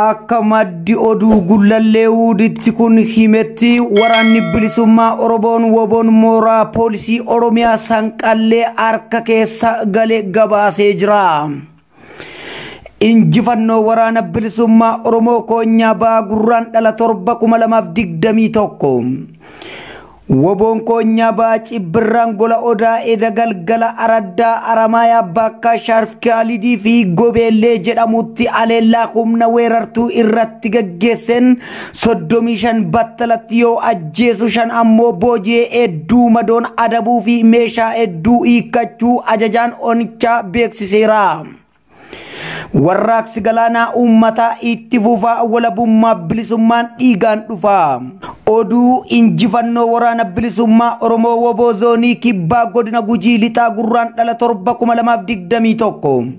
Akka maddi oduu gullallee wuuditti kun himetti waraanni bilisummaa Oromoon woboon mooraa poolisii Oromiyaa sanqallee harka keessa gale gabaasee jira. Injifannoo waraana bilisummaa Oromoo koonyaa ba'aa gurraan dhala torba kuma lamaaf digdamii tokko. Woboon Koonyaa Ba'aa Ciibbirraan Gola Odaa Eda Galgala Araddaa Aramaayaa Baakkaa Shaarf Kaalidii fi Gobeellee jedhamutti aleellaa humna weerartuu irratti gaggeesseen 35 battalatti yoo ajjeesu shan ammoo booji'ee hedduu madoon adabuu fi meeshaa hedduu hiikkachuu ajajaan onichaa beeksiseera. Warraaqsi galaanaa uummataa itti fufaa walabummaa bilisummaan dhiigaan dhufaa. Oduu injifannoo waraana bilisummaa Oromoo Woboo Zoonii Kibbaa Godina Gujii Lixaa Gurraan dhala torba 2021.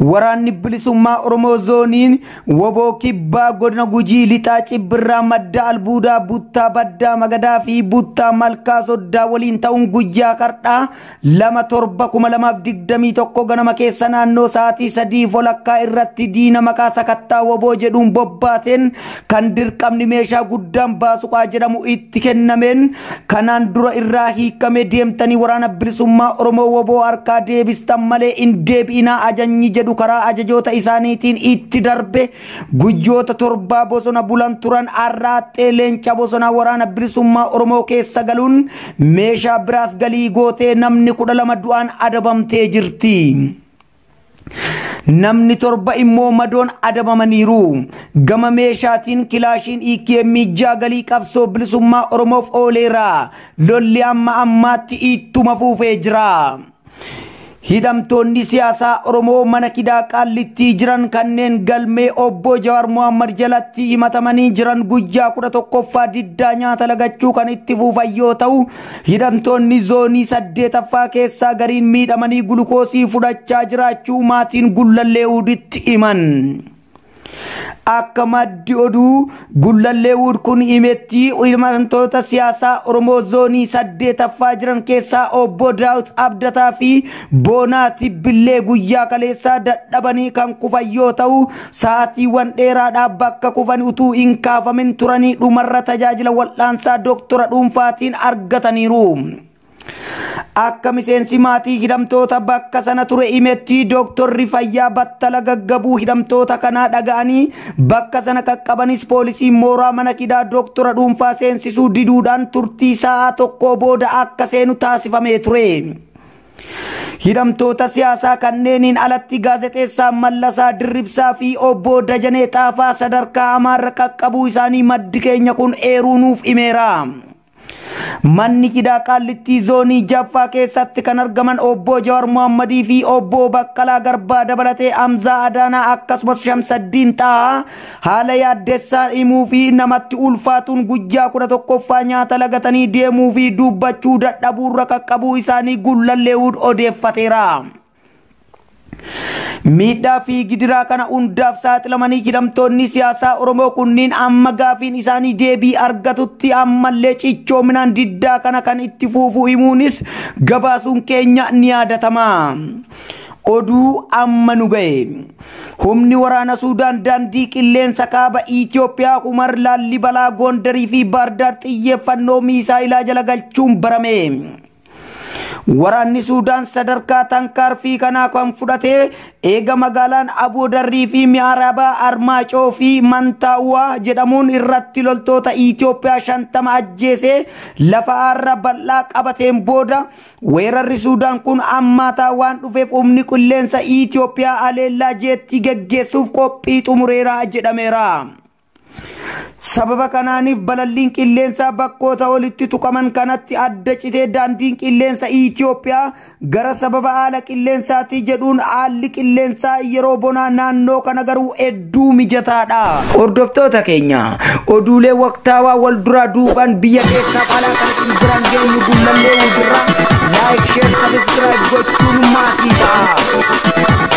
Waraanni bilisummaa Oromoo zooniin woboo kibbaa godina gujii lixaa cibbirraa madda albuudaa buttaa baddaa magadaa fi buttaa malkaa soddaa waliin ta'uun guyyaa kardhaa lama torba kuma lamaaf digdamii tokko ganama keessa naannoo sa'aatii sadii folakkaa irratti diina maqaa sakattaa woboo jedhuun bobbaateen kan dirqamni meeshaa guddaan baasuqaa jedhamu itti kennameen kanaan dura irraa hiikamee deemtanii waraana bilisummaa oromoo woboo harkaa deebistan malee hin deebi'inaa ajanyi jedhu karaa ajajoota isaaniitiin itti darbe Guyyoota torbaa bosona bulan turan arraaxxee leenca bosonaa waraana bilisummaa Oromoo keessa galuun meeshaa biraas galii gootee namni kudha lama du'aan adabamtee jirti. Namni torba immoo madoon adabamaniiru. Gama meeshaatiin kilaashiin EKM ijaa galii qabsoo bilisummaa Oromoof ooleera. Lolli amma ammaatti ittuma fuufee jira. Hidhamtoonni siyaasaa Oromoo mana kidaa qaallittii jiran kanneen galmee obbo Jawaar Mohammad jalatti himatamanii jiran guyyaa kudha tokkoffaa diddaa nyaata lagachuu kan itti fuufan yoo ta'u hidhamtoonni zoonii saddeetaffaa keessaa gariin miidhamanii gulukoosii fudhachaa jiraachuu maatiin gullallee huditti himan. Akka maddi oduu Gullallee Wuud kun himetti himantoota siyaasaa Oromoo zoonii saddeetaffaa jiran keessaa obbo Daawit Abdataa fi Boonaa Tibbillee guyyaa kaleessaa dadhabanii kan kufan yoo ta'u sa'aatiiwwan dheeraadhaa bakka kufan utuu hin kaafamin turanii dhumarra tajaajila wal'aansaa doktora dhuunfaatiin argataniiru. Akka miseensi maatii hidhamtoota bakka sana ture himetti dooktorri fayyaa battala gaggabuu hidhamtoota kanaa dhaga'anii bakka sana qaqqabanis poolisiin mooraa mana hidhaa dooktora dhuunfaa seensisuu diduudhaan turtii sa'aa tokkoo booda akka seenu taasifamee ture. Hidhamtoota siyaasaa kanneeniin alatti gaazexeessaa Mallasaa Dirribsaa fi obbo Dajanee Xaafaa sadarkaa hamaarra qaqqabuu isaanii maddi keenya kun eeruu nuuf himeera. Manni hidhaa Qaallittii zoonii jaffaa keessatti kan argaman obbo Jawar Mohammadii fi obbo Baqqalaa Garbaa dabalatee Hamzaa Adaanaa akkasumas Shamsaddiin Xaahaa haala yaaddessaan himuu fi namatti ulfaatuun guyyaa kudha tokkoffaa nyaata lagatanii deemuu fi dubbachuu dadhabuurra qaqqabuu isaanii Gullalleewud odeeffateera. Miidhaa fi gidiraa kana hundaaf saaxilamanii hidhamtoonni siyaasaa Oromoo kunniin amma gaafiin isaanii deebii argatutti ammallee cichoominaan diddaa kana kan itti fuufu himuunis gabaasuun keenya ni yaadatama. Oduu amma nu ga'e. Humni waraana Suudaan daandii qilleensa kaaba Itoophiyaa Humar Laallibalaa Goondarii fi Baardaar xiyyeeffannoo miisaayilaa jala galchuun barame. Waraanni Suudaan sadarkaa tankaarfii kanaa kan fudhate eega magaalaan Aboo Darrii fi Mi'aaraabaa Armaacoo fi Mantaawaa jedhamuun irratti loltoota Itoophiyaa shantama ajjeesee lafa aarra bal'aa qabateen booda weerarri Suudaan kun ammaataa waan dhufeef humni qilleensa Itoophiyaa aleellaa jeettii geggeessuuf qophii xumureera jedhameera. Sababa kanaaniif balalliin qilleensaa bakkoota olitti tuqaman kanatti adda citee daandiin qilleensa Itoophiyaa gara sababa haala qilleensaatii jedhuun haalli qilleensaa yeroo bonaa naannoo kana garuu hedduu mijataadha. Hordoftoota keenya oduulee waqtaawaa wal duraa duubaan biyya keessaaf alaa kan isin biraan geenyu gullallee wajjirraa laayik sheer sabiskiraayib gochuun maatii ta'a.